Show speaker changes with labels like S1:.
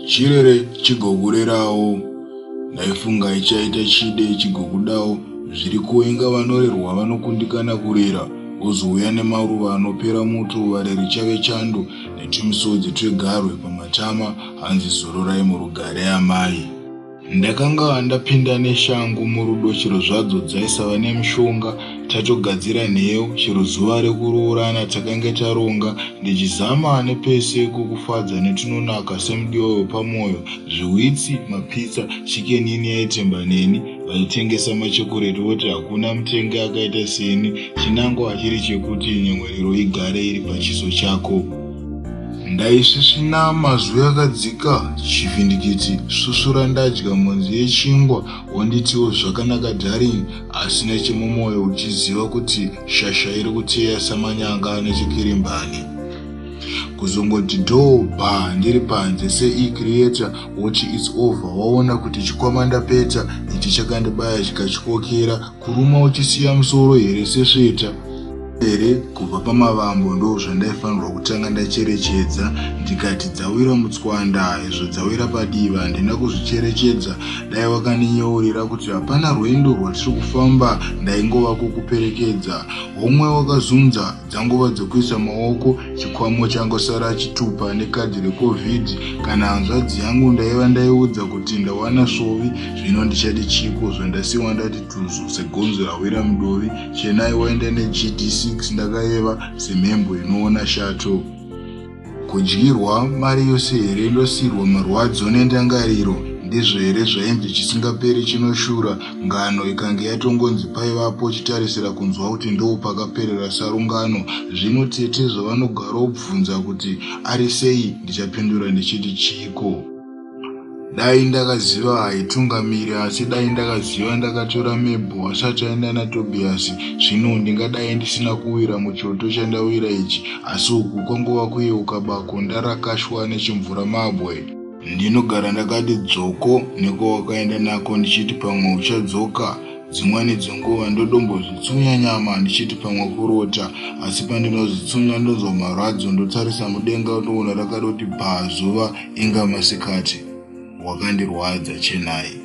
S1: chirere chigokurerawo ndaifunga ichaita chide chigokudawo zviri kuenga vanorerwa vanokundikana kurera wozouya nemaruva anopera muto vareri chave chando netumisodzi twegarwe pamatama hanzi zororai murugare amai Ndakanga ndapinda neshangu murudo chero zvadzo dzaisava nemushonga tatogadzira nheyo chero zuva rekuroorana takange taronga ndichizama nepese kukufadza netunonaka semudiwa wepamwoyo zviwitsi mapitsa chikenini yaitemba neni vaitengesa machokoreti voti hakuna mutengi akaita seni chinangwa chiri chekuti nyemwerero igare iri pachiso chako Ndaisvisvina mazwi akadzika chivhindikiti susura ndadya mhonzi yechingwa wonditiwo zvakanaka darling asi nechemumoyo uchiziva kuti shasha iri kuteya samanyanga ane chikirimbani kuzongoti dhoo bha ndiri panze seicreator woti its over waona kuti chikwama ndapedza ichi chakandibaya chikachikokera Kuruma uchisiya musoro here sesveta here kubva pamavambo ndo zvandaifanirwa kutanga ndacherechedza ndikati dzawira mutswanda izvo dzawira padiva handina kuzvicherechedza dai wakandinyeurira kuti hapana rwendo rwatiri kufamba ndaingova kukuperekedza homwe wakazunza dzanguva dzokuisa maoko chikwamo changosara achitupa nekadhi recovid kana hanzvadzi yangu ndaiva ndaiudza kuti ndawana svovi zvino ndichati chiko zvandasiwa ndati tuzu segonzo rawira mudovi chenai waenda negd 6 ndakayeva semhembwe inoona shato Kudyirwa mari yose here ndosiirwa marwadzo nendangariro ndizvo here zvainzi chisingaperi chinoshura ngano ikange yatongonzi paivapo chitarisira kunzwa kuti ndopakaperera sarungano zvino tete zvavanogara obvunza kuti ari sei ndichapindura ndichiti chiiko dai ndakaziva haitungamiri asi dai ndakaziva ndakatora mebho asati aenda natobiyasi zvino ndingadai ndisina kuwira muchoto chandawira ichi asi uku kwangova kuyeuka bako ndarakashwa nechimvura mabwe ndinogara ndakati dzoko nekwawakaenda nako ndichiti pamwe uchadzoka Dzimweni dzenguva ndotombozvitsunya nyama ndichiti pamwe kurota asi pandinozvitsunya ndonzwa marwadzo ndotarisa mudenga ndoona rakadoti bhaa zuva inga masikati. Wakandirwadza Chenai.